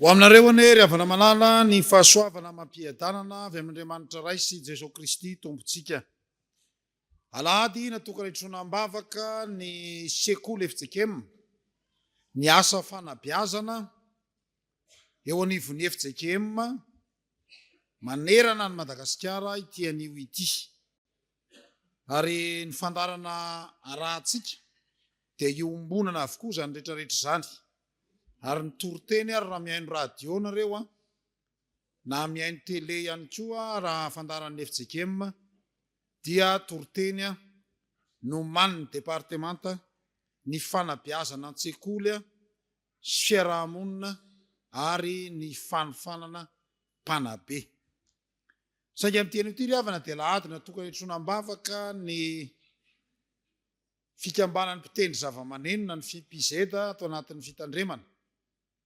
Ho aminareo anie ry havana malala ny fahasoavana amam-piadanana avy amin'Andriamanitra Ray sy Jeso Kristy Tompontsika. Alahady natokana hitroana am-bavaka ny Sekoly fjkm, ny asa fanabeazana eo anivon'ny fjkm manerana an'i Madagasikara ity anio ity. Ary ny fandaharana arahantsika dia iombonana avokoa izany rehetrarehetra izany. Ary ny toriteny ary raha mihaino radio nareo an, na mihaino tele ihany koa raha fandaharan'ny fjkm dia toriteny nomanin'ny departemanta ny fanabeazana an-tsekoly sy fiaraha-monina ary ny fanofanana mpanabe. Saingy amin'ity herin'ity ry havana dia alahady natokana hitroana am-bavaka ny fikambanan'ny mpitendry zavamaneno na ny FIPZ ato anatin'ny fitandremana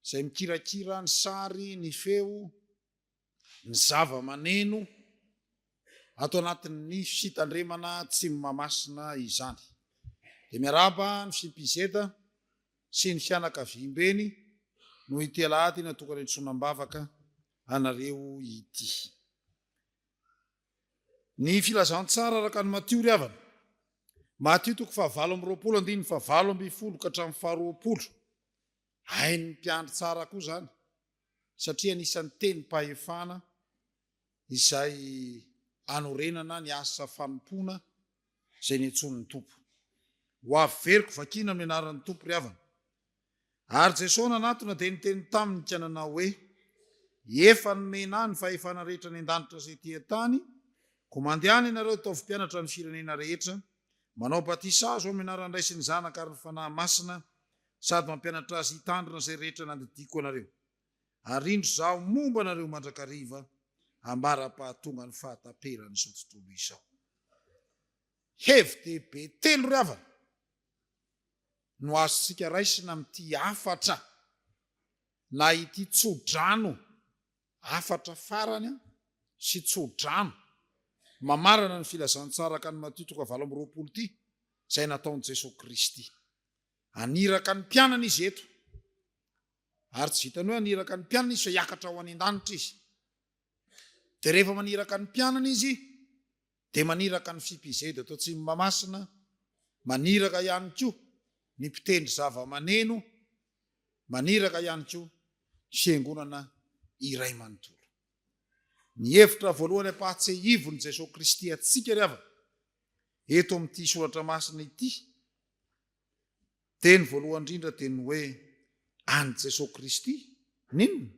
izay mikirakira ny sary, ny feo, ny zavamaneno ato anatin'ny fitandremana Tsimo Mahamasina izany. Dia miarahaba ny FIPZ sy ny fianakaviambeny noho ity alahady natokana hitroana am-bavaka anareo ity. Ny filazantsara araka ny Matio ry havana. Matio toko fahavalo amby roapolo andininy fahavalo ambin'ny folo ka hatramin'ny faharoapolo. Hain'ny mpiandry tsara koa izany satria anisan'ny tenim-pahefana izay anorenana ny asa fanompoana izay niantsoan'ny Tompo. Ho averiko vakiana amin'ny anaran'ny Tompo ry havana. Ary Jesoa nanatona dia niteny taminy ka nanao hoe, Efa nomena ahy ny fahefana rehetra any an-danitra sy ety an-tany, koa mandehana ianareo hitaovy mpianatra ny firenena rehetra, manao batisa azy ao amin'ny anaran'ny Ray sy ny Zanaka ary ny Fanahy Masina, sady mampianatra azy hitandrina izay rehetra nandidiako anareo. Ary indro izaho momba anareo mandrakariva ambara-pahatongan'ny fahataperan'izao tontolo izao. Hevi-dehibe telo ry havana! no azontsika raisina amin'ity hafatra na ity tsodrano, hafatra farany sy tsodrano, mamarana ny filazantsara araka ny Matio toko fahavalo amby roapolo ity, izay nataon'i Jesoa Kristy. Haniraka ny mpianany Izy eto. Ary tsy vitan'ny hoe haniraka ny mpianany Izy fa hiakatra ho any an-danitra Izy. Dia rehefa maniraka ny mpianany Izy, dia maniraka ny fpz eto Atsimo Mahamasina, maniraka ihany koa ny mpitendry zavamaneno, maniraka ihany koa ny fiangonana iray manontolo. Ny hevitra voalohany ampahatsehivon'i Jesoa Kristy antsika ry havana eto amin'ity soratra masina ity, Teny voalohany indrindra dia ny hoe an'i Jesoa Kristy. N'inona?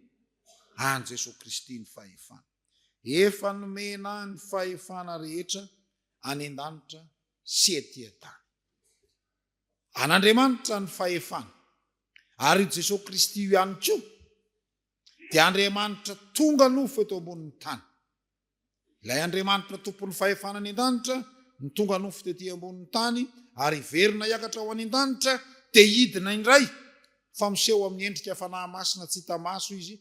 An'i Jesoa Kristy ny fahefana. Efa nomena ny fahefana rehetra any an-danitra sy ety an-tany. An'Andriamanitra ny fahefana. Ary io Jesoa Kristy io ihany koa dia Andriamanitra tonga nofo eto ambonin'ny tany. Ilay Andriamanitra Tompon'ny fahefana any an-danitra no tonga nofo tety ambonin'ny tany ary hiverina hiakatra ho any an-danitra dia hidina indray, fa miseho amin'ny endrika fanahy masina tsy hita maso izy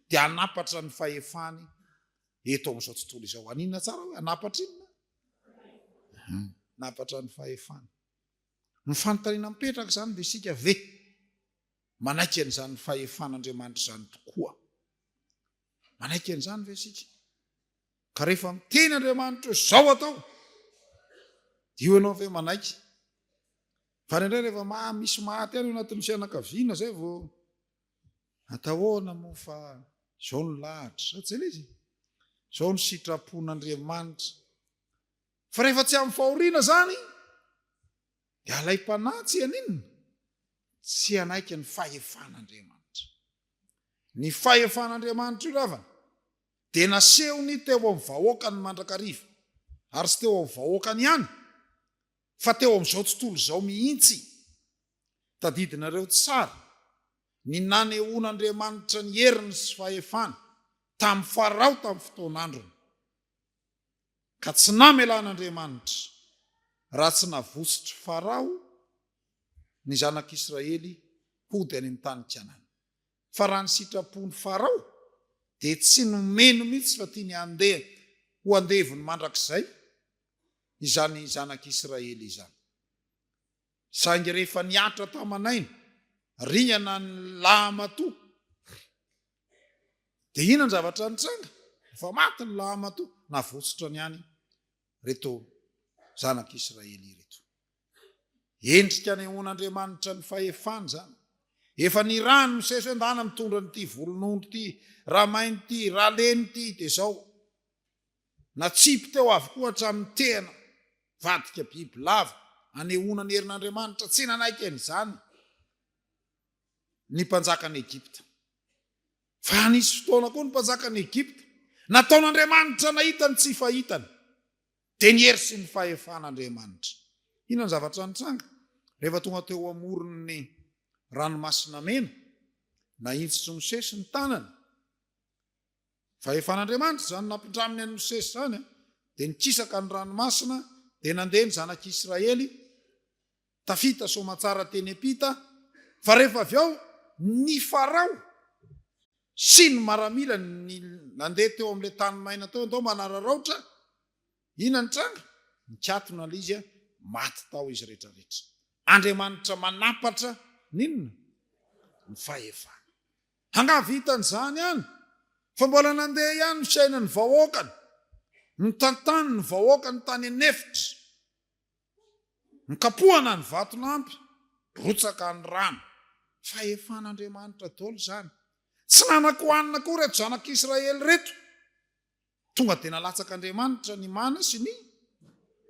dia hanapatra ny fahefany eto amin'izao tontolo izao. Haninona tsara hoe hanapatra inona? Hanapatra ny fahefany. Ny fanontaniana mipetraka izany dia isika ve manaiky an'izany fahefan'Andriamanitra izany tokoa? Manaiky an'izany ve isika? Ka rehefa miteny Andriamanitra hoe zao atao, dia io ianao ve manaiky? Fa ny indray rehefa maha misy maty any anatin'ny fianakaviana zay vao atahoana moa fa zao ny lahatra, sa tsy ilay izy? Zao ny sitrapon'Andriamanitra. Fa rehefa tsy amin'ny fahoriana zany, dia alaim-panahy tsy haninona? Tsy hanaiky ny fahefan'Andriamanitra. Ny fahefan'Andriamanitra io ravana dia nasehony teo amin'ny vahoakany mandrakariva, ary tsy teo amin'ny vahoakany ihany fa teo amin'izao tontolo izao mihitsy. Tadidinareo tsara ny nanehoan'Andriamanitra ny heriny sy fahefany tamin'i Farao tamin'ny fotoan'androny. Ka tsy namelan'Andriamanitra raha tsy navotsotry Farao ny zanak'Israely hody any amin'ny tany Kanana. Fa raha ny sitrapon'i Farao dia tsy nomeny mihitsy fa tiany handeha ho andevony mandrakizay izany zanak'Israely izany. Saingy rehefa nihatra taman'aina riana ny lahamatoa dia inona ny zavatra nitranga? Efa maty ny lahamatoa, navotsitra ihany ireto zanak'Israely ireto. Endrika anehoan'Andriamanitra ny fahefany izany. Efa nirahany Mosesy hoe ndana mitondra an'ity volonondry ity, ramainy ity, raleny ity, dia izao. Natsipy teo avokoa hatramin'ny tena vadika biby lava anehoana ny herin'Andriamanitra tsy nanaiky an'izany ny mpanjakan'i Egypta. Fa nisy fotoana koa ny mpanjakan'i Egypta nataon'Andriamanitra nahita ny tsy fahitany, dia ny hery sy ny fahefan'Andriamanitra. Inona ny zavatra nitranga? Rehefa tonga teo amoron'ny Ranomasina Mena, nahitsitsy Mosesy ny tanany, Fahefan'Andriamanitra izany nampindraminy an'i Mosesy izany, dia nikisaka ny ranomasina, dia nandeha ny zanak'i Israely tafita soamantsara teny am-pita, fa rehefa avy ao ny Farao sy ny maramilany nandeha teo amin'ilay tany maina teo, ndao manararaotra, inona ny tranga? Nikatona ilay izy, maty tao izy rehetrarehetra. Andriamanitra manampatra ny inona? Ny fahefana. Angaha vitan'izany ihany fa mbola nandeha ihany ny fiainan'ny vahoakany, notantany ny vahoakany tany an'efitra, nokapohana ny vatolampy, rotsaka ny rano. Fahefan'Andriamanitra daholo izany. Tsy nanan-kohanina koa ireto zanak'Israely ireto. Tonga dia nalatsak'Andriamanitra ny mana sy ny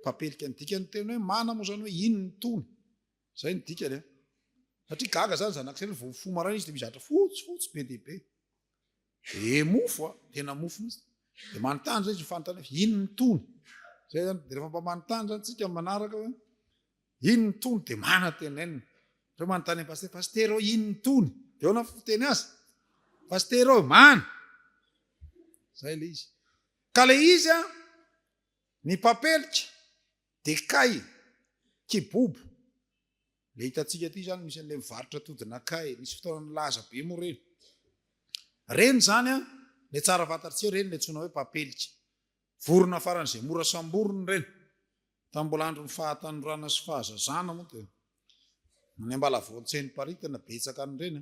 papelika. Ny dikan'ny teny hoe mana moa izany hoe inona itony? Zay ny dikany an! Satria gaga zany zanak'isiraely vao mifoha maraina izy de mizatra fotsy fotsy be dia be. Be mofo an! Tena mofo mihitsy. De manontany zay izy ny fanontaniana hoe inona ny tony? Zay zany. De rehefa mba manontany zany tsika manaraka hoe inona ny tony de manatenenina. Ohatra manontany an'i pasitera, pasitera ô inona ny tony? De ahoana ny fiteny azy? Pasitera ô, mana! Zay le izy. Ka le izy an! Ny papelika dia kay, kibobo, ilay hitantsika aty izany misy an'ilay mivarotra atodin'akay, nisy fotoana nilaza be moa ireny. Ireny izany an, ilay tsara fantatrtsika ireny ilay antsoina hoe papelika. Vorona faran'izay mora samborina ireny. Tamin'ny mbola andron'ny fahatanorana sy fahazazana moa dia any Ambalavao Ntseniparitana betsaka an'ireny.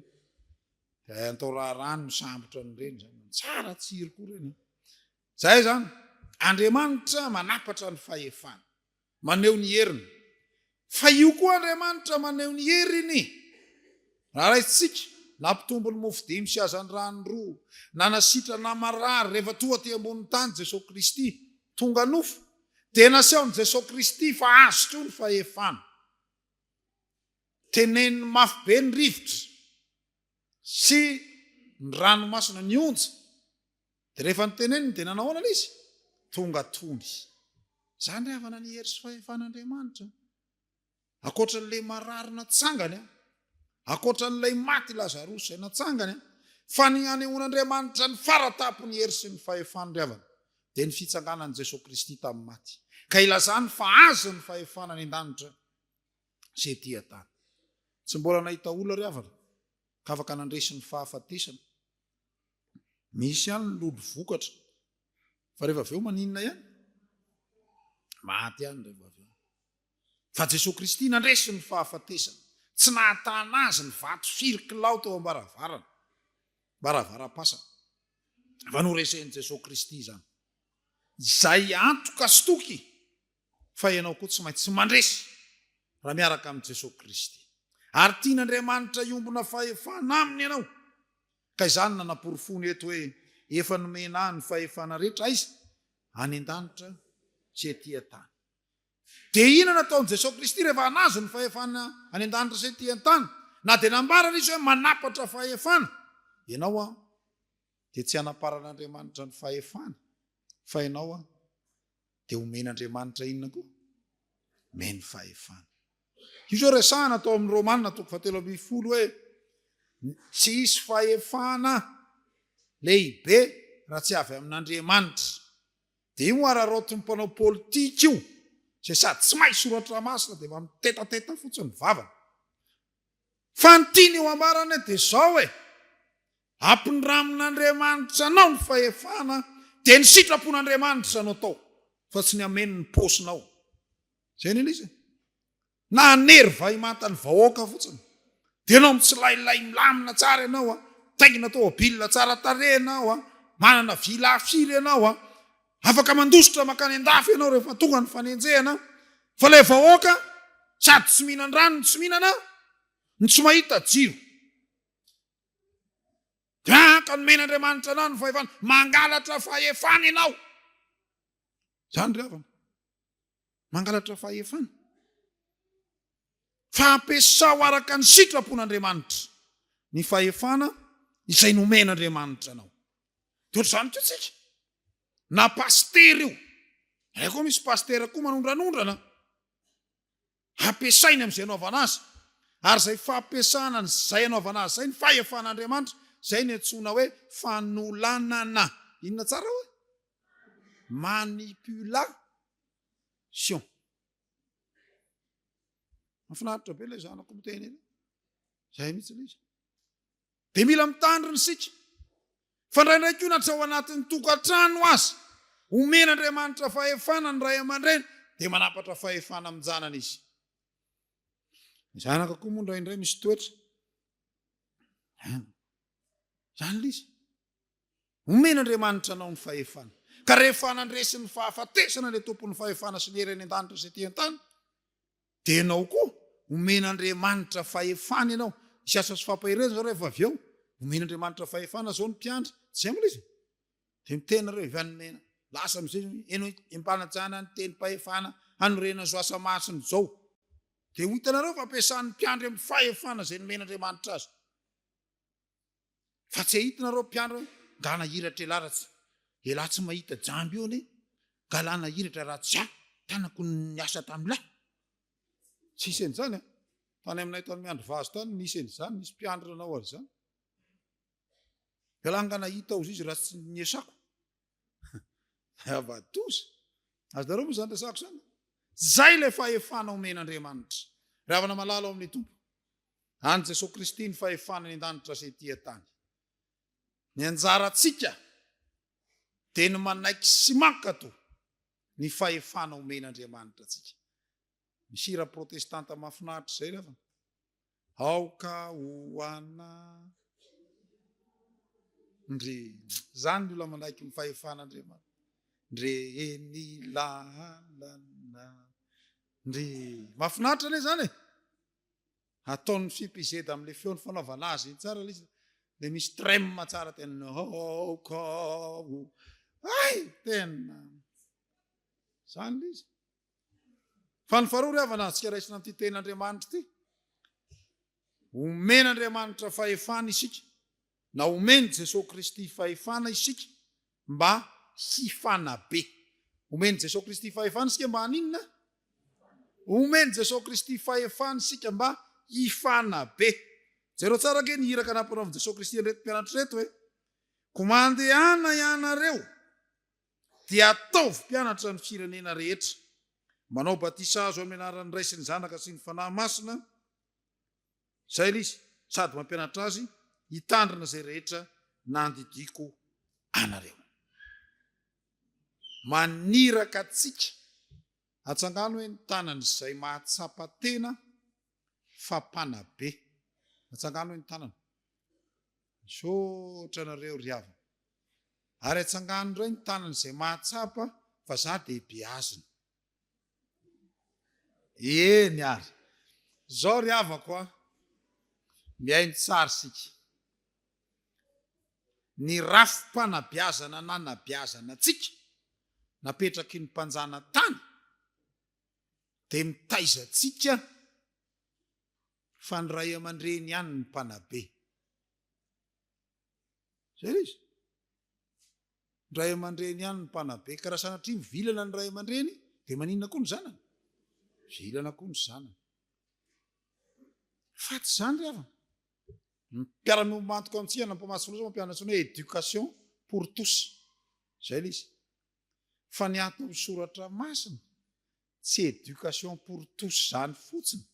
Dia atao raharaha ny misambotra an'ireny izany. Tsara tsiry koa ireny. Izay izany. Andriamanitra manapatra ny fahefany. Maneho ny heriny. Fa io koa Andriamanitra maneho ny heriny. Raha raisitsika, nampitombo ny mofo dimy sy hazandrano roa, nanasitra na marary rehefa toa aty ambonin'ny tany Jesoa Kristy, tonga nofo, dia nasehon'i Jesoa Kristy fa azy koa ny fahefana. Teneniny mafy be ny rivotra sy ny ranomasina, ny onja, Dia rehefa noteneniny dia nanao ahoana ilay izy? Tonga tony. Izany ry havana ny hery sy fahefan'Andriamanitra. Ankoatran'ilay marary natsangany, ankoatran'ilay maty Lazarosy izay natsangany, fa ny hanehoan'Andriamanitra ny fara tampon'ny hery sy ny fahefany ry havana dia ny fitsanganan'i Jesoa Kristy tamin'ny maty, ka ilazany fa Azy ny fahefana any an-danitra sy ety an-tany. Tsy mbola nahita olona ry havana ka afaka nandresy ny fahafatesana. Misy ihany ny lolo vokatra. Fa rehefa avy eo maninona ihany? Maty ihany rehefa avy eo. Fa Jesoa Kristy nandresy ny fahafatesana. Tsy nahatana azy ny vato firy kilao teo am-baravarana, varavaram-pasana. Fa noresen'i Jesoa Kristy izany. Izay antoka sy toky fa ianao koa tsy maintsy mandresy raha miaraka amin'i Jesoa Kristy. Ary tian'Andriamanitra hiombona fahefana aminy ianao. Ka izany nanaporofony eto hoe efa nomena ahy ny fahefana rehetra aiza? Any an-danitra, tsy ety an-tany. Dia inona no ataon'i Jesoa Kristy rehefa anazy ny fahefana any an-danitra sy ety an-tany? Na dia nambarany Izy hoe manapatra fahefana ianao aho, dia tsy hanaparan'Andriamanitra ny fahefany fa ianao aho. dia homen'Andriamanitra inona koa? Omeny fahefana. Io izao resahana tao amin'ny Romana toko fahatelo ambin'ny folo hoe tsy hisy fahefana lehibe raha tsy avy amin'Andriamanitra. Dia io araraotin'ny mpanao politika io izay sady tsy mahay soratra masina dia mba mitetateta fotsiny ny vavany. Fa ny tiany ho ambarana dia izao e, Ampindramn'Andriamanitra anao ny fahefana dia ny sitrapon'Andriamanitra no atao fa tsy ny amen' ny paosinao. Izay ny an'izy e. Na hanery vahimanta ny vahoaka fotsiny dia enao mitsilailay milamina tsara ianao a, mitaingina tomobil tsara tarehy ianao a, manana villa firy ianao a, Afaka mandositra mankany an-dafy ianao rehefa tonga ny fanenjehana fa ilay vahoaka sady tsy mihinan-drano no tsy mihinana no tsy mahita jiro dia ka nomen'Andriamanitra anao ny fahefana mangalatra fahefana ianao. Izany ry havana. Mangalatra fahefana. Fa ampiasao araka ny sitrapon'Andriamanitra ny fahefana izay nomen'Andriamanitra anao. Dia ohatr'izany koa tsika. Na pasitera io. Ary koa misy pasitera koa manondranondrana. Ampiasainy amin'izay anaovana azy. Ary izay fampiasana izay anaovana azy izay ny fahefan'Andriamanitra, izay ny antsoina hoe fanolanana. Inona tsara hoe? Manipulation. Mahafinaritra be ilay zanako miteny eny. Zay mihitsy ilay izy. Dia mila mitandrina isika. Fa indraindray koa na tsy ao anatin'ny tokantrano azy, omena Andriamanitra fahefana ny ray aman-dreny, dia manapatra fahefana amin-janany izy. Ny zanaka koa moa indraindray misy toetra. Zany ilay izy. Omen'Andriamanitra anao ny fahefana. Ka rehefa nandresy ny fahafatesana ilay Tompon'ny fahefana sy ny hery any an-danitra sy ety an-tany, dia ianao koa omen'Andriamanitra fahefana ianao. Hisy asa sy fampaherezana izao rehefa avy eo. Omen'Andriamanitra fahefana izao ny mpiandry. Izay mbola izy. Dia miteny nareo avy any mena. Lasa amin'izay ianao ampanajana ny tenim-pahefana hanorenana izao asa masina izao. Dia ho hitanareo fa ampiasan'ny mpiandry amin'ny fahefana izay nomen'Andriamanitra azy. Fa tsy ahita nareo mpianatra hoe galana hiratra elah raha tsy elah tsy mahita jamby eo ne galana hiratra raha tsy ah tanako ny asa tamin'lah. Tsy hisy an'izany ah. Tany aminay tany miandry vazo tany nisy an'izany nisy mpianatra nanao an'izany. Elah nga nahita ozy izy raha tsy ny asako. Havadoza. Azonareo moa izany resako izany? Zay ilay fahefana omen'Andriamanitra. Ravana malala ao amin'ny Tompo. An'i Jesoa Kristy ny fahefana eny an-danitra sy ety an-tany. Ny anjarantsika dia ny manaiky sy mankato ny fahefana omen'Andriamanitra antsika. Misy hira protestanta mahafinaritra izay lava. Aoka ho ana ndre zany ny olona manaiky ny fahefan'Andriamanitra. Ndre eny lalana. Ndre mahafinaritra ne zany e. Ataony fipizeda amle feony fanaovana azy iny tsara lisa de misy trem tsara tena hokao ay tena zany lisa fa ny faharoa ry havana antsika raisina amity teny andriamanitra ity omena andriamanitra fahefana isika na omeny jesosy kristy fahefana isika mba hifanabe. Omen'i Jesoa Kristy fahefana isika mba haninona? Omen'i Jesoa Kristy fahefana isika mba hifanabe. Jereo tsara ange ny iraka nampanaovin'i Jesoa Kristy an'ireto mpianatra ireto hoe, Koa mandehana ianareo, dia ataovy mpianatra ny firenena rehetra, manao batisa azo amin'ny anaran'ny Ray sy ny Zanaka sy ny Fanahy Masina, Izay ilay izy, sady mampianatra azy hitandrina izay rehetra nandidiako anareo. Maniraka antsika hatsangano hoe ny tanan'izay mahatsapa tena fa mpanabe. Hatsangano hoe ny tanana. Misaotra anareo ry havana. Ary hatsangano indray ny tanan'izay mahatsapa fa za dia beazina. Eny ary. Izao ry havako a, mihaino tsara isika. Ny rafi-panabeazana nanabeazana antsika, napetraky ny mpanjana-tany, dia mitaiza antsika fa ny ray aman-dreny ihany no mpanabe. Izay ilay izy. Ny ray aman-dreny ihany no mpanabe ka raha sanatria mivilana ny ray aman-dreny dia maninona koa ny zanany? Mivilana koa ny zanany. Faty izany ry havana. Ny mpiara-miombona antoko amintsika na mpamatsy fonosana mampianatra antsony hoe éducation pour tous. Izay ilay izy. Fa ny antony soratra masina Tsy education pour tous zany fotsiny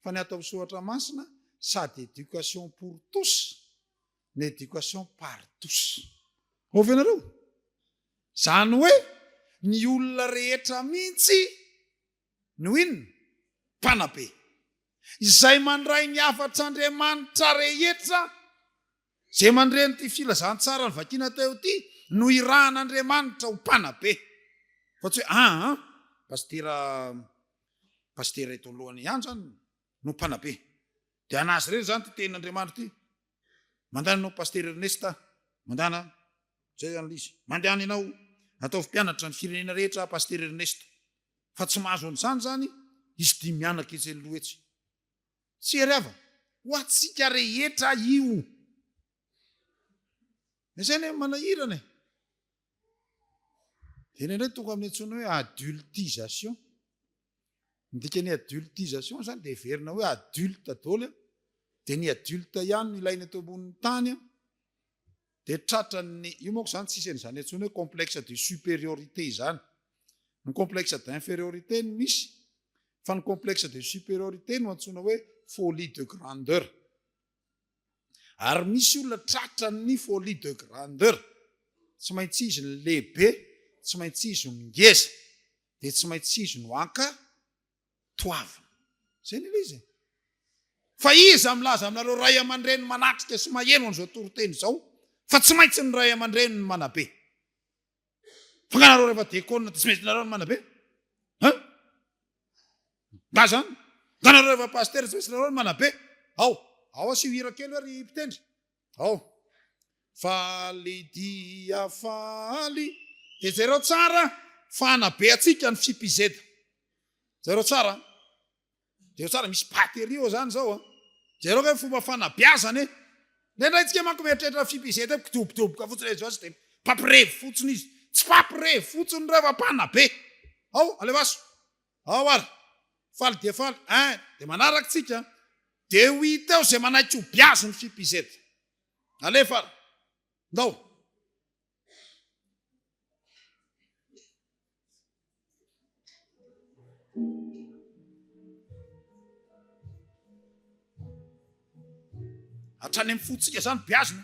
fa ny ato am soratra masina sady education pour tous no education par tous. Ao ve nareo? Zany hoe ny olona rehetra mintsy no inona? Mpanabe. Izay mandray ny hafatr Andriamanitra rehetra Izay mandre an'ity filazantsara novakiana teo ity no irahan'Andriamanitra ho mpanabe. Fa tsy hoe aa pasitera pasitera eto anoloany ihany izany no mpanabe. Dia an'azy ireny izany ity tenin'Andriamanitra ity. Mandany ianao Pasitera Ernest a! Mandany a! Izay izany ilay izy. Mandany ianao. Ataovy mpianatra ny firenena rehetra aho Pasitera Ernest. Fa tsy mahazo an'izany izany izy dimy mianaka etsy aloha etsy. Tsy hery havana. Ho antsika rehetra io. Mesaina hoe manahirana e. Dia iny indray tonga amin'ny antsoina hoe adultisation. Ny dikan'ny adultisation izany dia heverina hoe adulte daholo dia ny adulte ihany no ilaina eto ambonin'ny tany. Dia tratran'ny, io manko izany tsisy an'izany intsony hoe complexe de supériorité izany. Ny complexe d'infériorité no misy, fa ny complexe de supériorité no antsoina hoe folie de grandeur. Ary misy olona tratran'ny folie de grandeur, tsy maintsy izy no lehibe, tsy maintsy izy no ngeza, dia tsy maintsy izy no anka, toavina. Izay ny ilay izy e. Fa iza milaza aminareo ray aman-dreny manatrika sy maheno an'izao toriteny izao fa tsy maintsy ny ray aman-dreny ny manabe? Fa nga nareo rehefa dekona dia tsy maintsy nareo ny manabe? Ha? Nga zany? Nga nareo rehefa pasitera tsy maintsy nareo ny manabe? Ao, ao asio hira kely hoe ry mpitendry. Ao. Faly dia faly. Dia jereo tsara fa hanabe antsika ny CPZ. Jereo tsara an. Jereo tsara misy batterie ao izany izao an. Jereo ve ny fomba fanabeazana e. Indraindray tsika manko mieritreritra CPZ hoe mpidobodoboka fotsiny hoe izao dia mpampirevy fotsiny izy. Tsy mpampirevy fotsiny ireo fa mpanabe. Ao, alefaso. Ao ary! Faly dia faly eh! Dia manaraka tsika an! Dia ho hita eo izay manaiky ho biazy ny fipz. Alefa ary! Ndao! Hatrany amin'ny fontsika izany biazy no.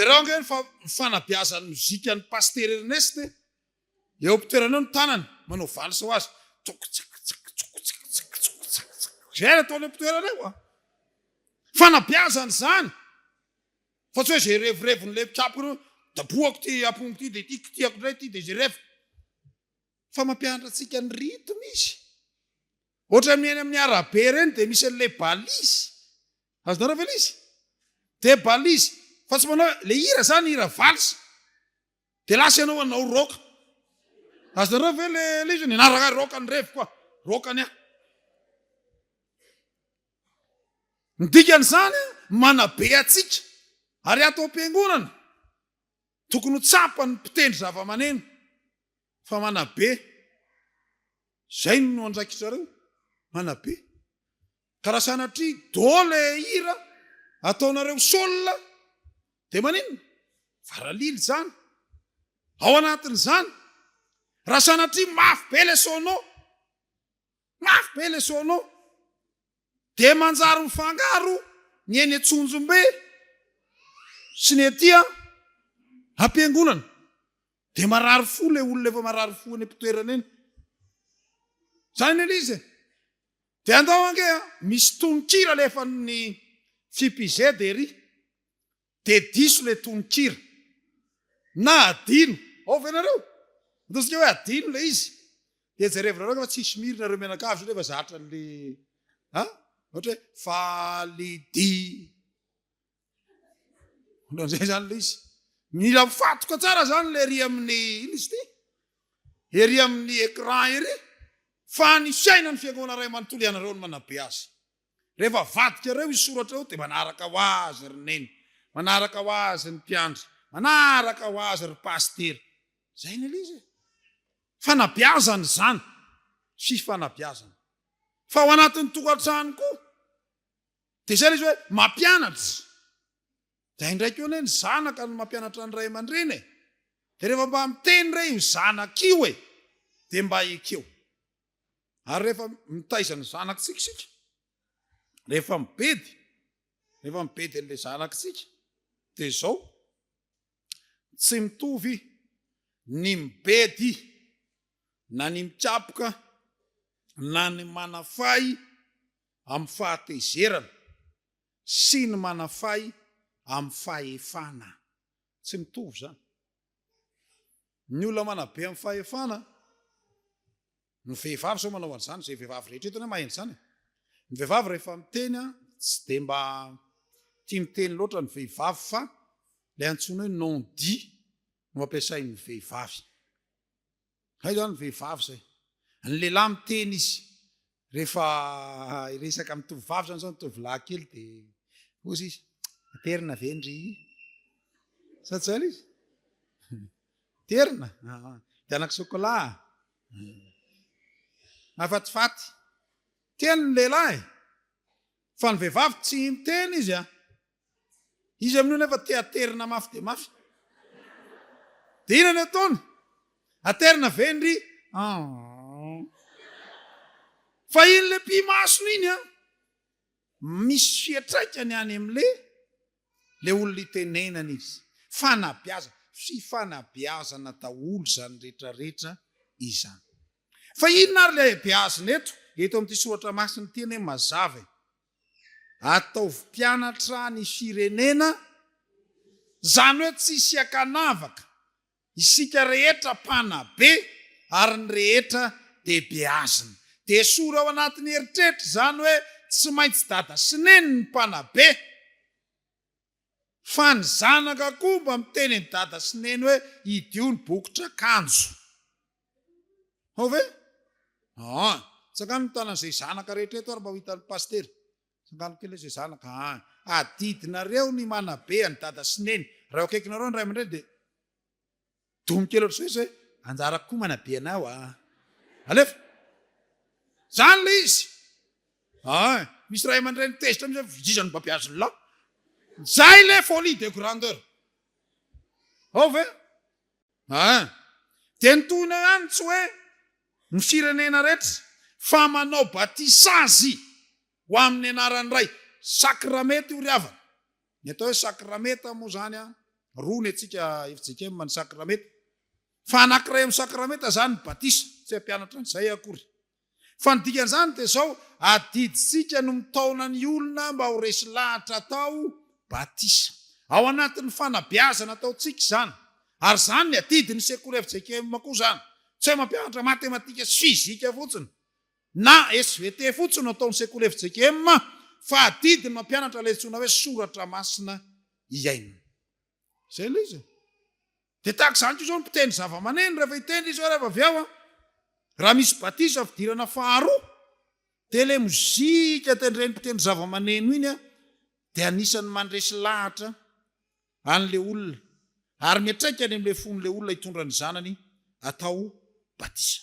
Jereo ange ny fanabeazan'ny mozika an'i Pasitera Ernest e! Eo am-pitoerany eo ny tanany, manao valse ho azy. Tsoko tsaka tsaka tsoko tsaka tsaka tsoko tsaka tsaka. Izay no ataony eo am-pitoerany eo a! Fanabeazana izany. Fa tsy hoe zay revireviny le mpitsabo ireo dabohako ty apongo ty de ty kitiako ndray ty de zay revy fa mampianatra antsika ny rythme izy ohatran'ny eny amin'ny arabe ireny de misy an'ilay balise azonareo ve le izy de balise fa tsy manao le hira zany hira valse de lasa ianao hanao rock azonareo ve le le izy nianaraka rock ny revy koa rock ny ahy Ny dikan'izany, manabe antsika. Ary ato am-piangonana, tokony ho tsapan'ny mpitendry zavamaneno fa manabe. Izay no andraikitrareo, manabe. Ka raha sanatria do le hira ataonareo sol dia maninona? Varalila izany. Ao anatin'izany, raha sanatria mafy be le sono, Mafy be le solo. Dia manjary mifangaro ny eny Antsonjombe sy ny ety am-piangonana. Dia marary fo le olona efa marary fo eny am-pitoerana eny. Izany anie le izy e. Dia andao ange a, misy tononkira alefan'ny FIPZ ery. De diso le tononkira na adino ao ve nareo? Ataontsika hoe adino le izy de jerevinareo ange fa tsisy miry nareo mianakavy satria efa zatra anle a ohatra hoe faly di ohatranzay zany le izy mila mifatoka tsara zany le ery amin'ny ina izy ty ery amin'ny ecran ery fa ny fiainan'ny fiangonana ray manontolo ianareo no manabe azy Rehefa avadika ireo hisoratra ireo dia manaraka ho azy ry neny, manaraka ho azy ny mpiandry, manaraka ho azy ry pasitera. Izay no izy e! Fanabeazana izany, fifanabeazana. Fa ao anatin'ny tokantrano koa dia izay ilay izy hoe mampianatra. Dia indray koa anie ny zanaka no mampianatra ny ray aman-dreny e! Dia rehefa mba miteny re io zanaka io e! Dia mba ekeo. ary rehefa mitaiza ny zanakitsika isika rehefa mibedy rehefa mibedy an'la zanakitsika de zao tsy mitovy ny mibedy na ny mikapoka na ny manafay amin'ny fahatezerana sy ny manafay amin'ny fahefana tsy mitovy zany Ny olona manabe amin'ny fahefana no vehivavy sao manao an'izany izay vehivavy rehetra eto anie mahay an'izany e! Ny vehivavy rehefa miteny an, tsy dia mba tia miteny loatra ny vehivavy fa ilay antsoina hoe non dit no ampiasain'ny vehivavy. Hay zany vehivavy zay. Ny lehilahy miteny izy rehefa hiresaka amin'ny tovovavy zany zao ny tovolahy kely de ozy izy aterina ve ndry sa tsy zany izy aterina de anako sokola mafatifaty teny ny lehilahy fa ny vehivavy tsy miteny izy a Izy amin'io nefa te aterina mafy dia mafy. Dia inona no ataony? Aterina ve ndry? Fa iny le pimasony iny an, misy fiantraikany any amin'le le olona itenenana izy. Fanabeazana, fifanabeazana daholo izany rehetrarehetra izany. Fa inona ary le beazina eto? Eto amin'ity soratra masina ity anie mazava e. Ataovy mpianatra ny firenena, izany hoe tsy hisy ankanavaka, isika rehetra mpanabe ary ny rehetra dia beazina. Dia esory ao anatin'ny eritreritra izany hoe tsy maintsy dada sy neny ny mpanabe. Fa ny zanaka koa mba miteny an'i dada sy neny hoe idio ny bokitr'akanjo. Hao ve? Aa! Tsangano ny tanan'izay zanaka rehetra eto ary mba ho hitan'ny pasitera. Tsangano kely izay zanaka. Aa! Adidinareo ny manabe an'i dada sy neny. Raha eo akaikinareo ny ray aman-dreny dia. Domy kely ohatr'izay zay, anjara koa manabe anao a. Alefa. Zany ilay izy. Ay, misy ray aman-dreny tezitra mihitsy hoe iza no mba beazy ny lahy. Zay ilay folie de grandeur. Ao ve? Ay. Dia ny tohiny eo ihany tsy hoe ny firenena rehetra fa manao batisazy ho amin'ny anaran'ny Ray. Sakramety io ry havana. Ny atao hoe sakramenta moa izany an, roa ny antsika FJKM ny sakramenta, fa anankiray amin'ny sakramenta izany ny batisa, tsy hampianatra an'izay aho akory. Fa ny dikan'izany dia izao, adidintsika no mitaona ny olona mba ho resy lahatra atao batisa. Ao anatin'ny fanabeazana ataontsika izany. Ary izany ny adidin'ny sekoly FJKM koa izany. Tsy hoe mampianatra matematika sy fizika fotsiny, Na svt fotsiny no ataon'ny sekoly fjkm fa adidy ny mampianatra ilay antsoina hoe soratra masina iainana. Izay ilay izy e. Dia tahaka izany koa izao ny mpitendry zavamaneno rehefa hitendry izy hoe reva avy ao an, raha misy batisa fidirana faharoa dia ilay mozika tendren'ny mpitendry zavamaneno iny dia anisan'ny mandresy lahatra An'ilay olona, ary miantraika any amin'ilay fon'ilay olona hitondra ny zanany atao batisa.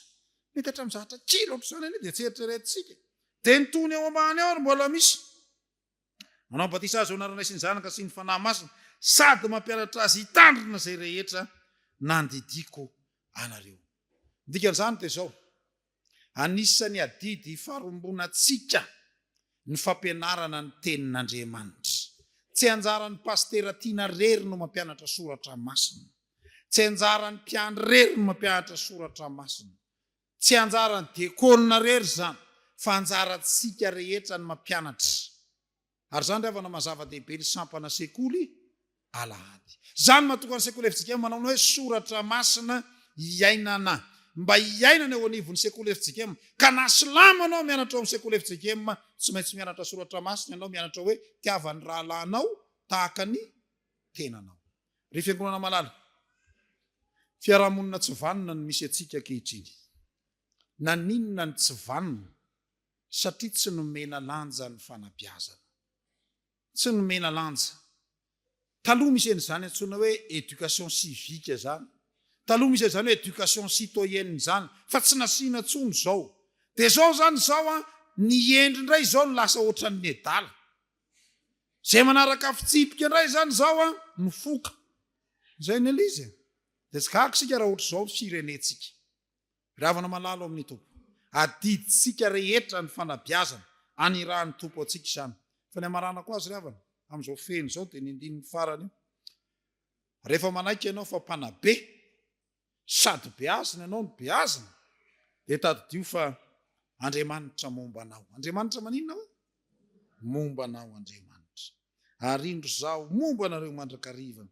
Mety hatramin'ny zavatra kely ohatr'izany anie dia tsy eritreretintsika. Dia ny tohiny eo ambany eo no mbola misy. Manao batisa azy eo anaranay sy ny Zanaka sy ny Fanahy Masina, sady mampianatra azy hitandrina izay rehetra nandidiako anareo. Ny dikan'izany dia izao. Anisan'ny adidy ifarombonantsika ny fampianarana ny Tenin'Andriamanitra. Tsy anjaran'ny pasitera tiana irery no mampianatra soratra masina. Tsy anjaran'ny mpiandry irery ny mampianatra soratra masina. Tsy anjaran'ny diakona irery izany, fa anjarantsika rehetra ny mampianatra. Ary izany ry havana mazava dehibe ny sampana sekoly alahady. Izany mahatonga ny sekoly FJKM manao ny hoe soratra masina iainana. Mba hiainana eo anivon'ny sekoly FJKM. Ka na silamo ianao mianatra ao amin'ny sekoly FJKM, tsy maintsy mianatra soratra masina ianao, mianatra hoe tiava ny rahalahinao tahaka ny tenanao. Ry fiangonana malala, fiarahamonina tsy vanona no misy antsika ankehitriny. Naninona no tsy vanona? satria tsy nomena lanja ny fanabeazana. Tsy nomena lanja. Taloha misy an'izany antsoina hoe éducation civique izany, taloha misy an'izany hoe éducation citoyenne izany fa tsy nasiana intsony izao. Dia izao izany izao an, ny hendry indray izao no lasa ohatran'ny nedala. Izay manaraka fitsipika indray izany izao an, mifoka. Izay ny an'izy e. Dia tsy gaga isika raha ohatr'izao ny firenentsika. Ravana malalo amin'ny Tompo. Adidintsika rehetra ny fanabeazana anirahan'ny Tompo antsika izany. Fa ny hamaranako azy ry havana, amin'izao fehiny izao dia ny andininy farany io. Rehefa manaiky ianao fa mpanabe, sady beazina ianao no beazina, dia tadidio fa Andriamanitra momba anao. Andriamanitra maninona hoy? Momba anao Andriamanitra. ary indro izaho momba anareo mandrakariva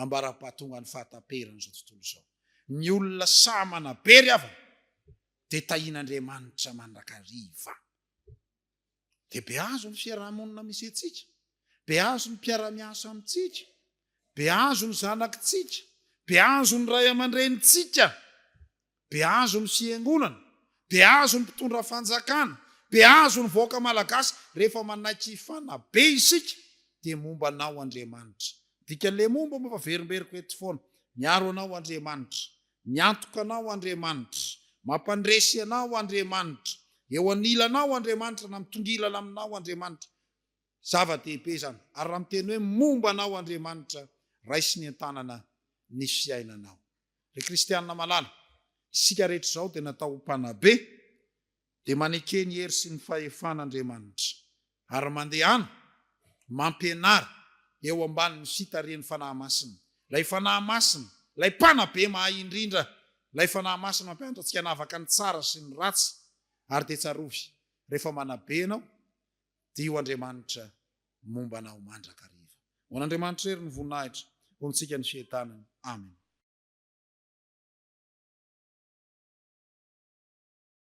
ambara-pahatongan'ny fahataperan'izao tontolo izao. Ny olona sahy manabe ry havana dia tahian'Andriamanitra mandrakariva. Dia beazo ny fiaraha-monina misy antsika, beazo ny mpiara-miasa amintsika, beazo ny zanakitsika, beazo ny ray aman-drenintsika. Behazo ny fiangonana, behazo ny mpitondra fanjakana, behazo ny vahoaka malagasy rehefa manaiky hifanabe isika dia momba anao Andriamanitra. Dika le momba momba averimberiko eto foana. Miaro anao Andriamanitra. Miantoka anao Andriamanitra. Mampandresy anao Andriamanitra. Eo anilanao Andriamanitra na mitongilana aminao Andriamanitra. Zava-dehibe izany. Ary raha miteny hoe momba anao Andriamanitra, raisiny an-tanana ny fiainanao. Ry kristianina malala, isika rehetra izao dia natao ho mpanabe, dia maneke ny hery sy ny fahefan'Andriamanitra, ary mandehana mampianara eo ambanin'ny fitarihan'ny Fanahy Masina, ilay Fanahy Masina, ilay Mpanabe mahay indrindra, ilay Fanahy Masina mampianatra antsika hanavaka ny tsara sy ny ratsy, ary dia tsarovy, rehefa manabe ianao, Dio Andriamanitra momba anao mandrakariva. Ho an'Andriamanitra irery ny voninahitra, ho amintsika ny fientanana. Amena.